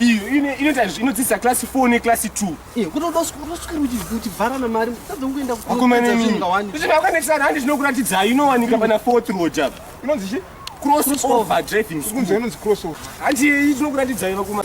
iyo inoita inodzidzisa class 4 neclass 2 kutodosukirutivarana mari tadzongoenda kuakomaneakanekisana handi zvinokuratidzaa inowanika pana fourth road apa inonzi chi cross over driving school inonzi cross over handi iyi tinokuratidzai vakuma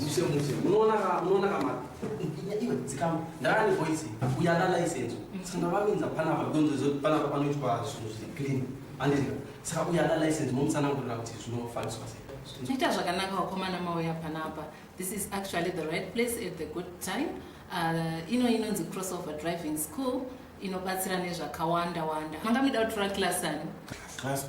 Muse muse munoona ka munoona ka maka. Iwe dzikama. Ndani voice uya na license. Sanga vaminza pana va gonzo zo pana pa panoitwa zvinhu zviri clean. Andizika. Saka uya na license mumusana ngorira kuti zvinofaniswa sei. Zvinoita zvakanaka wakomana mauya panapa. This is actually the right place at the good time. Uh, ino inonzi crossover driving school inobatsira nezvakawanda wanda. Manga mida kutora class ani? Class 2.